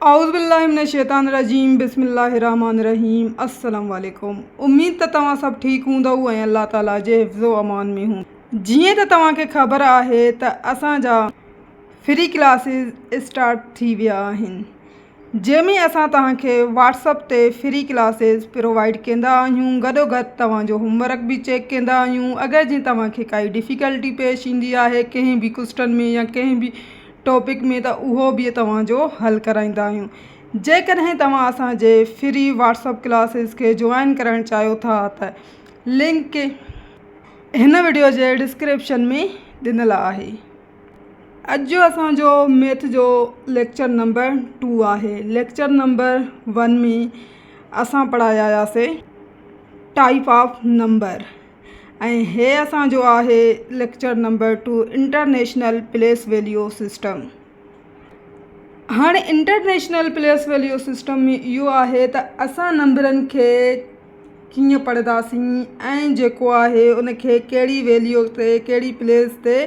اعوذ بالله من الشيطان الرجيم بسم الله الرحمٰن الرحيم السلام عليڪم اميد ته توهان سڀ ٺيڪ هوندؤ ۽ الله تعالي جي حفظ و امان ۾ هوندؤ جيئن ته توهان کي خبر آهي ته اسان جا فري ڪلاسز اسٽارٽ ٿي ويا آهن جنهن ۾ اسان توهان کي واٽسپ تي فري ڪلاسز پرووائيڊ ڪندا آهيون گڏو گڏ توهان جو هوم ورڪ به چيڪ ڪندا آهيون اگر جي توهان کي ڪائي ڊفيڪلٽي پيش ايندي آهي ڪنهن به ڪوسٽن ۾ يا ڪنهن به ٽاپڪ ۾ ته اهو به توهان جو حل ڪرائيندا آهيون جيڪڏهن توهان اسان جي فري واٽس اپ ڪلاسز کي جوائن ڪرائڻ چاهيو ٿا ته لنڪ هن وڊيو جي ڊسڪرپشن ۾ ڏنل آهي. اڄ جو اسان جو ميٿ جو ليڪچر نمبر ٽو آهي ليڪچر نمبر ون ۾ اسان پڙهايا آهياسي ٽائيپ آف نمبر. ۽ هي اسان جو آهي lecture number two international place value system هاڻي انٽرنيشنل پليس ويليو سسٽم ۾ اهو آهي ته اسان نمبرن کي ڪيئن پڙهنداسين ۽ جيڪو آهي ان کي ڪهڙي ويليو تي ڪهڙي پليس تي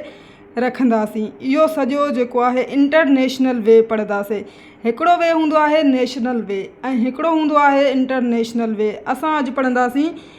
رکنداسين اهو سڄو جيڪو آهي انٽرنيشنل وي پڙهنداسين هڪڙو وي هوندو آهي نيشنل وي ۽ هڪڙو هوندو آهي انٽرنيشنل وي اسان اڄ پڙهنداسين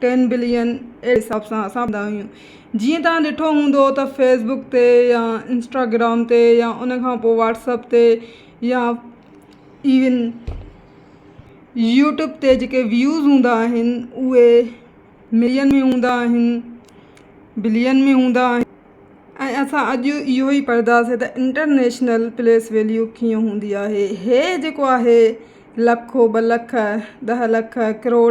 ٽين بلين اهڙي حساب سان اسان ٻڌندا آهيون جيئن توهان ڏٺو هوندو ته فيس بڪ تي يا انسٽاگرام تي يا ان کان پوء واٽس اپ تي يا ايون يوٽيوب تي جيڪي ويوز هوندا آهن اهي ملين ۾ هوندا آهن بلين ۾ هوندا آهن ۽ اسان اڄ اهو ئي پڙهنداسين ته انٽرنيشنل پليس ويليو ڪيئن هوندي آهي هي جيڪو آهي لکو ٻه لک ڏهه لک ڪروڙ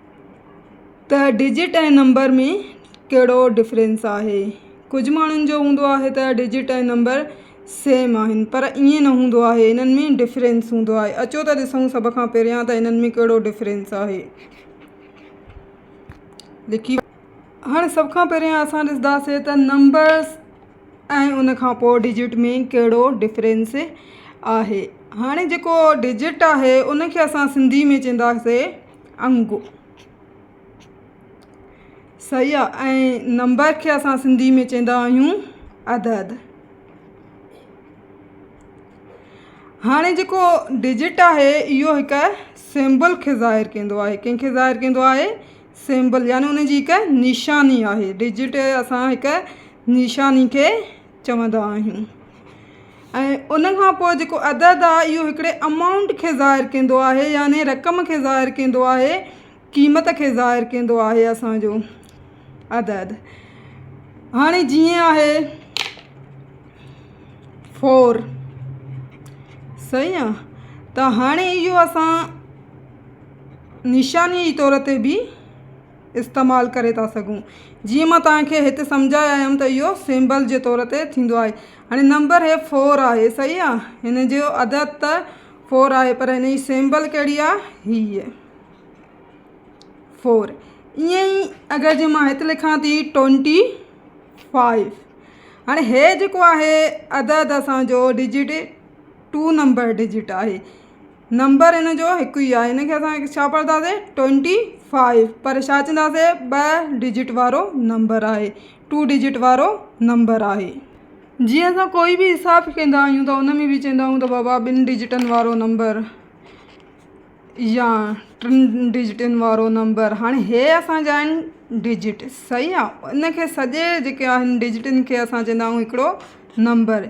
ته ڊجٽ ۽ نمبر ۾ ڪهڙو ڊفرينس آهي ڪجهه ماڻهن جو هوندو آهي ته ڊجٽ ۽ نمبر سيم آهن پر ائين نه هوندو آهي انهن ۾ ڊفرينس هوندو آهي اچو ته ڏسون سڀ کان پهريان ته انهن ۾ ڪهڙو ڊفرينس آهي لکي هاڻي سڀ کان پهريان اسان ڏسنداسين ته نمبرس ۽ ان کان پوء ڊجٽ ۾ ڪهڙو ڊفرينس آهي هاڻي جيڪو ڊجٽ آهي ان کي اسان سنڌي ۾ چونداسين انگ صحيح آ ۽ نمبر کي اسان سنڌي ۾ چيندا آهيون عدد هاڻي جيڪو ڊجٽ آهي اهو هڪ سيمبل کي ظاهر ڪندو آهي ڪنهن کي ظاهر ڪندو آهي سيمبل يعني ان جي هڪ نشاني آهي ڊجٽ اسان هڪ نشاني کي چوندا آهيون ۽ ان کان پوء جيڪو عدد آهي اهو هڪڙي امائونٽ کي ظاهر ڪندو آهي يعني رقم کي ظاهر ڪندو آهي قيمت کي ظاهر ڪندو آهي اسانجو عدد هاڻي جيئن آهي فور صحيح آ ته هاڻي اهو اسان نشاني جي طور تي به استعمال ڪري ٿا سگهون جيئن مان توهان کي هت سمجهائي آيم ته اهو سيمبل جي طور تي ٿيندو آهي هاڻي نمبر هي فور آهي صحيح آ هن جو عدد ته فور آهي پر هن جي سيمبل ڪهڙي آ هي فور ائين ئي اگر جي مان هت لکان ٿي ٽونٽي فائيو هاڻي هي جيڪو آهي عدد اسان جو ڊجٽ ٽو نمبر ڊجٽ آهي نمبر هن جو هڪ ئي آهي. هن کي اسان ڇا پڙهنداسين ٽوئنٽي فائيو پر ڇا چونداسين ٻه ڊجٽ وارو نمبر آهي ٽو ڊجٽ وارو نمبر آهي. جيئن اسان ڪوئي به حساب ڪندا آهيون ته ان ۾ به چويندا آهيون ته بابا ٻن ڊجٽن وارو نمبر يا ٽن ڊجٽن وارو نمبر هاڻي هي اسانجا آهن ڊجٽ صحيح آ ان کي سڄي جيڪي آهن ڊجٽن کي اسان چويندا آهيون هڪڙو نمبر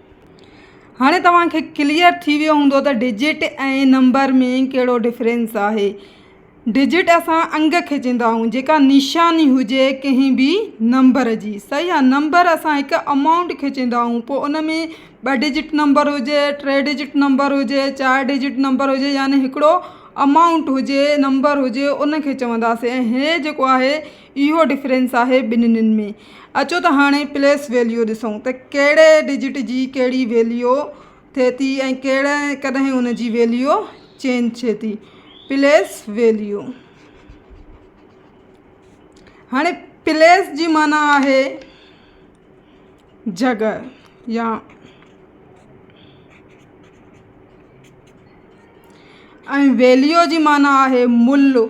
هاڻي توهان کي ڪليئر ٿي ويو هوندو ته ڊجٽ ۽ نمبر ۾ ڪهڙو ڊفرينس آهي ڊجٽ اسان انگ کي چيندا آهيون جيڪا نشاني هجي ڪنهن به نمبر جي صحيح آهي نمبر اسان هڪ امائونٽ کي چيندا آهيون پوء ان ۾ ٻه ڊجٽ نمبر هجي ٽي ڊجٽ نمبر هجي چار ڊجٽ نمبر هجي يعني هڪڙو امائونٽ هجي نمبر هجي ان کي چونداسين ۽ هي جيڪو آهي اهو ڊفرينس آهي ٻنهين ۾. اچو ته هاڻي پليس ويليو ڏسون ته ڪهڙي ڊجٽ جي ڪهڙي ويليو ٿئي ٿي ۽ ڪڏهن ان جي ويليو چينج ٿئي ٿي. پليس ويليو هاڻي پليس جي معنيٰ آهي جڳهه يا ۽ ويليو جي معنيٰ آهي ملهه.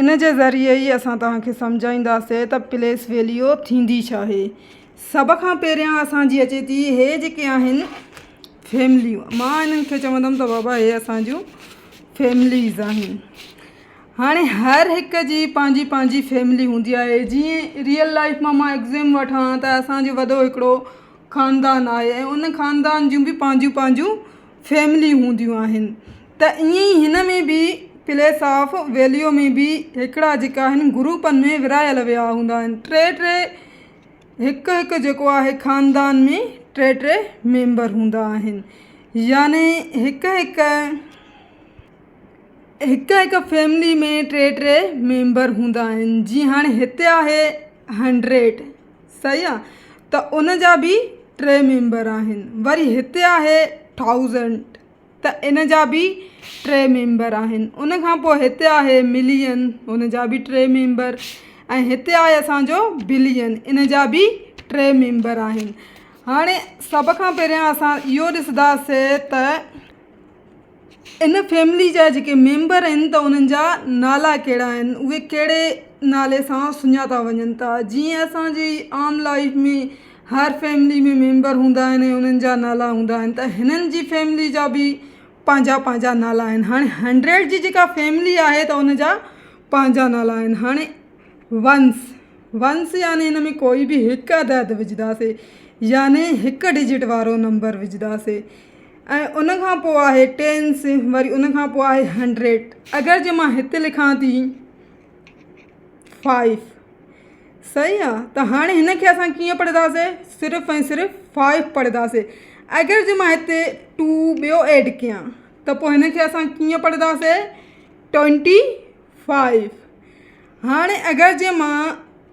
ان جي ذريعي ئي اسان توهان کي سمجهائينداسين ته پليس ويليو ٿيندي ڇا آهي. سڀ کان پهريان اسان جي اچي ٿي هي جيڪي آهن فيمليون مان انهن کي چوندم ته بابا هي اسان جون فيمليز آهن هاڻي هر هڪ جي پنهنجي پنهنجي فيملي هوندي آهي جيئن ريئل لائف مان مان ايگزيم وٺان ته اسان جو وڏو هڪڙو خاندان آهي ۽ ان خاندان جون بي پنهنجون پنهنجون فيملي هونديون آهن ته ائين ئي هن ۾ به پليس آف ويليو ۾ به هڪڙا جيڪا آهن گروپن ۾ ورهايل ويا هوندا آهن ٽي ٽي هڪ هڪ جيڪو آهي خاندان ۾ ٽي ٽي ميمبر هوندا آهن يعني هڪ هڪ هڪ هڪ فيملي ۾ ٽي ٽي ميمبر هوندا آهن جي هاڻي هتي آهي هنڊريڊ صحيح آ ته ان جا به ٽي ميمبر آهن وري هتي آهي ٿائوزنٽ ته ان جا به ٽي ميمبر آهن ان کان پوء هتي آهي ملين ان جا به ٽي ميمبر ۽ هتي آهي اسانجو بلين ان جا به ٽي ميمبر آهن هاڻي سڀ کان پهريان اسان اهو ڏسنداسي ته ان فيملي جا جيڪي ميمبر آهن ته انهن جا نالا ڪهڙا آهن اهي ڪهڙي نالي سان سڃاتا وڃن ٿا جيئن اسان جي عام لائف ۾ هر فيملي ۾ ميمبر هوندا آهن ۽ انهن جا نالا هوندا آهن ته هنن جي فيملي جا بي پنهنجا پنهنجا نالا آهن هاڻي هنڊريڊ جي جيڪا فيملي آهي ته ان جا پنهنجا نالا آهن هاڻي ونس ونس يعني ان ۾ ڪوئي بي هڪ عدد وجهداسي يعني هڪ ڊجٽ وارو نمبر وجهداسي ۽ ان کان پوء آهي ٽينس وري ان کان پوء آهي هنڊريڊ اگر جي مان هتي لکان ٿي فائيف صحيح آ ته هاڻي هن کي اسان ڪيئن پڙهنداسي صرف ۽ صرف فائيف پڙهنداسي اگر جي مان هتي ٽو ٻيو ايڊ ڪيان ته پوء هن کي اسان ڪيئن پڙهنداسي ٽوئنٽي فائيف هاڻي اگر جي مان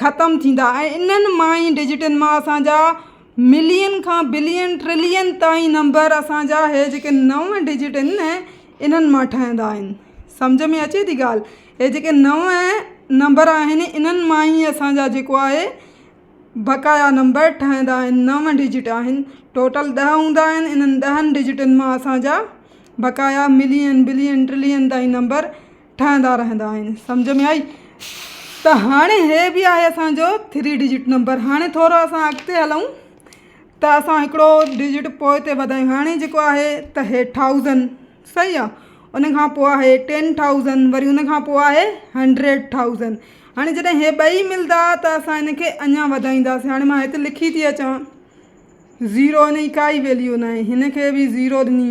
ختم ٿيندا ۽ انهن مان ئي ڊجٽن مان اسان جا ملين کان بلين ٽرلين تائين نمبر اسان جا هي جيڪي نو ڊجٽ آهن نه انهن مان ٺهندا آهن سمجهه ۾ اچي ٿي ڳالهه هي جيڪي نو نمبر آهن انهن مان ئي اسان جا جيڪو آهي بقايا نمبر ٺهندا آهن نو ڊجٽ آهن ٽوٽل ڏهه هوندا آهن انهن ڏهن ڊجٽن مان اسان جا بقايا ملين بلين ٽرلين تائين نمبر ٺاهيندا رهندا آهن سمجهه ۾ آئي ته هاڻي هي به آهي اسان جو ٿري ڊجٽ نمبر هاڻي ٿورو اسان اڳتي هلون ته اسان هڪڙو ڊجٽ پوء تي وڌايون هاڻي جيڪو آهي ته هي ٿائوزن صحيح آ ان کان پوء آهي ٽين ٿائوزن وري ان کان پوء آهي هنڊريڊ ٿائوزن هاڻي جڏهن هي ٻئي ملدا ته اسان ان کي اڃا وڌائينداسين هاڻي مان هت لکي ٿي اچان زيرو ان جي ڪائي ويليو ناهي هن کي به زيرو ڏني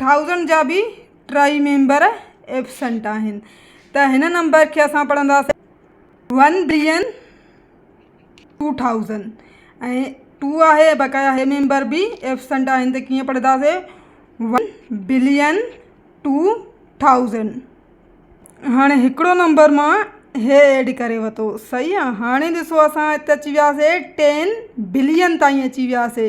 ٿائوزنڊ جا به ٽئي ميمبر ايبسنٽ آهن ته هن نمبر کي اسان پڙهنداسين one billion two thousand ۽ two آهي بقايا هي ميمبر به ايبسنٽ آهن ته ڪيئن پڙهنداسين ون بلين ٽو ٿائوزنڊ هاڻي هڪڙو نمبر مان هي ايڊ ڪري وتو صحيح آ هاڻي ڏسو اسان هت اچي وياسي ٽين بلين تائين اچي وياسي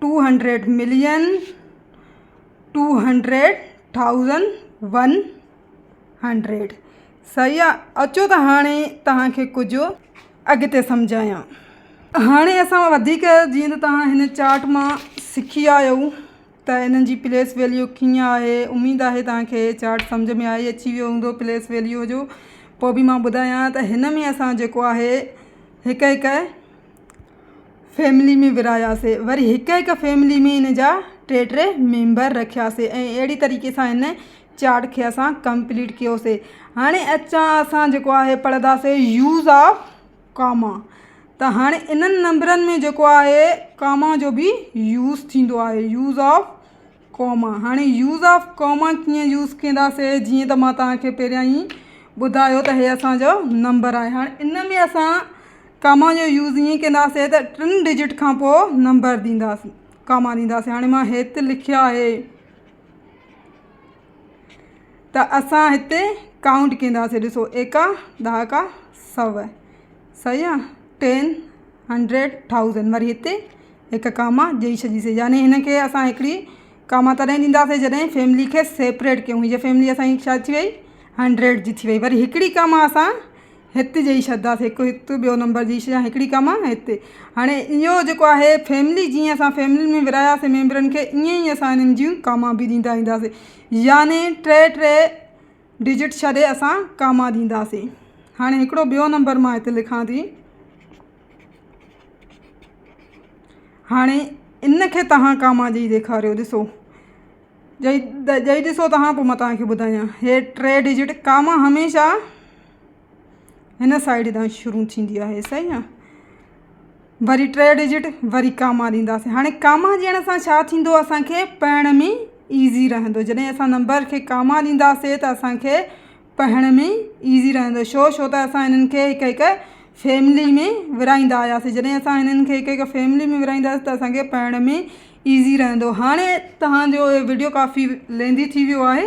two hundred million two hundred thousand one hundred سهي آ اچو ته هاڻي تهانکي ڪجهه اڳتي سمجهايان هاڻي اسان وڌيڪ جيئن ته تهان هن چارٽ مان سکي آيا آهيو ته انهن جي پليس ويليو ڪيئن آهي اميد آهي تهانکي چارٽ سمجهه ۾ آئي اچي ويو هوندو پليس ويليو جو پوء به مان ٻڌايان ته هن ۾ اسان جيڪو آهي هڪ هڪ فيملي ۾ ورهاياسي وري هڪ هڪ فيملي ۾ ان جا ٽي ٽي ميمبر رکياسي ۽ اهڙي طريقي سان هن چارٽ کي اسان ڪمپليٽ ڪيوسي هاڻي اچان اسان جيڪو آهي پڙهنداسي يوز آف ڪاما ته هاڻي انهن نمبرن ۾ جيڪو آهي ڪاما جو بي يوز ٿيندو آهي يوز آف ڪوما، هاڻي يوز آف ڪوما ڪيئن يوز ڪنداسي جيئن ته مان توهان کي پهريان ئي ٻڌايو ته هي اسان جو نمبر آهي هاڻي ان ۾ اسان ڪاما جو يوز ائين ڪنداسي ته ٽن ڊجٽ کان پوء نمبر ڏينداسي ڪاما ڏينداسي هاڻي مان هيت لکيو آهي ته اسان هتي ڪائونٽ ڪنداسي ڏسو ايڪا ڏهاڪا سؤ سيان ٽين هنڊريڊ ٿائوزنڊ وري هتي هڪ ڪاما ڏئي ڇڏيسي يعني هن کي اسان هڪڙي ڪاما تڏهن ڏينداسين جڏهن فيملي کي سيپريٽ ڪيون هي فيملي اسان جي ڇا ٿي وئي هنڊريڊ جي ٿي وئي وري هڪڙي ڪاما اسان هت ڏئي ڇڏيداسين هڪ هت ٻيو نمبر ڏئي ڇڏيا هڪڙي ڪاما هت هاڻي اهو جيڪو آهي فيملي جيئن اسان فيملي ۾ ورهاياسين ميمبرن کي ائين ئي اسان هنن جون ڪاما به ڏيندا وينداسين يعني ٽي ٽي ڊجٽ ڇڏي اسان ڪاما ڏينداسين هاڻي هڪڙو ٻيو نمبر مان هتي لکان ٿي هاڻي ان کي توهان ڪاما ڏئي ڏيکاريو ڏسو ڏئي ڏئي ڏسو توهان پوء مان توهان کي ٻڌايان هي ٽي ڊجٽ ڪاما هميشه هن سائيڊ تان شروع ٿيندي آهي صحيح آ وري ٽي ڊجٽ وري ڪاما ڏينداسين هاڻي ڪاما ڏيڻ سان ڇا ٿيندو اسانکي پڙهڻ ۾ ايزي رهندو جڏهن اسان نمبر کي ڪاما ڏينداسي ته اسانکي پڙهڻ ۾ ايزي رهندو شو شو ته اسان هنن کي هڪ هڪ فيملي ۾ ورهائيندا آياسي جڏهن اسان هنن کي هڪ هڪ فيملي ۾ ورهائينداسي ته اسانکي پڙهڻ ۾ ايزي رهندو هاڻي تهانجو وڊيو ڪافي ليندي ٿي ويو آهي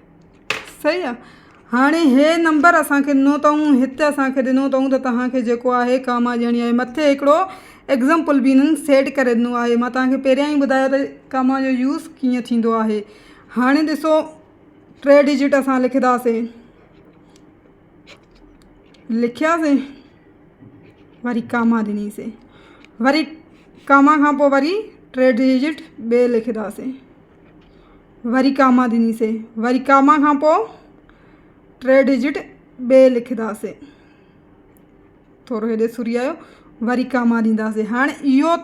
صحيح آ هاڻي هي نمبر اسان کي ڏنو اٿئون هت اسان کي ڏنو اٿئون ته توهان کي جيڪو آهي ڪا ماء ڄڻي آهي مٿي هڪڙو ايگزامپل به هنن سيٽ ڪري ڏنو آهي مان توهان کي پهريان ئي ٻڌايو ته ڪا ماء جو يوز ڪيئن ٿيندو آهي هاڻي ڏسو ٽي ڊجٽ اسان لکنداسين لکياسين وري ڪا ماء ڏنيسين وري ڪا ماء کان پوء وري ٽي ڊجٽ ٻي لکنداسين وري ڪاما ڏنيسين وري ڪاما کان پوء ٽي ڊجٽ ٻي لکنداسين ٿورو هيڏي سوري آيو وري ڪاما ڏينداسين هاڻي اهو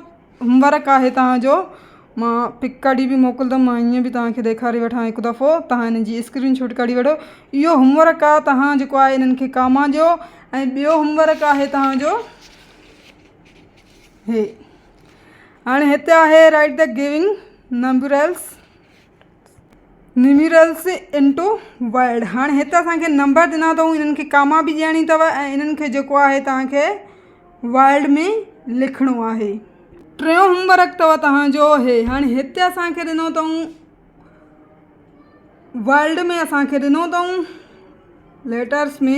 هوم ورڪ آهي تهانجو مان پڪ ڪڍي به موڪلندم مان ائين به تهانکي ڏيکاري وٺان هڪ دفعو تهان هن جي اسڪرين شوٽ ڪڍي وٺو اهو هوم ورڪ آهي تهان جيڪو آهي هنن کي ڪاما ڏيو ۽ ٻيو هوم ورڪ آهي تهانجو هي هاڻي هتي آهي Write the giving numerals numerals into word هاڻي هتي اسان کي نمبر ڏنا اٿئون انهن کي ڪاما به ڏيڻي اٿو ۽ انهن کي جيڪو آهي توهان کي ورلڊ ۾ لکڻو آهي ٽيون هوم ورڪ اٿو توهان جو هي هاڻي هتي اسان کي ڏنو اٿئون ورلڊ ۾ اسان کي ڏنو اٿئون ليٽرس ۾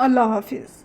الله حافظ.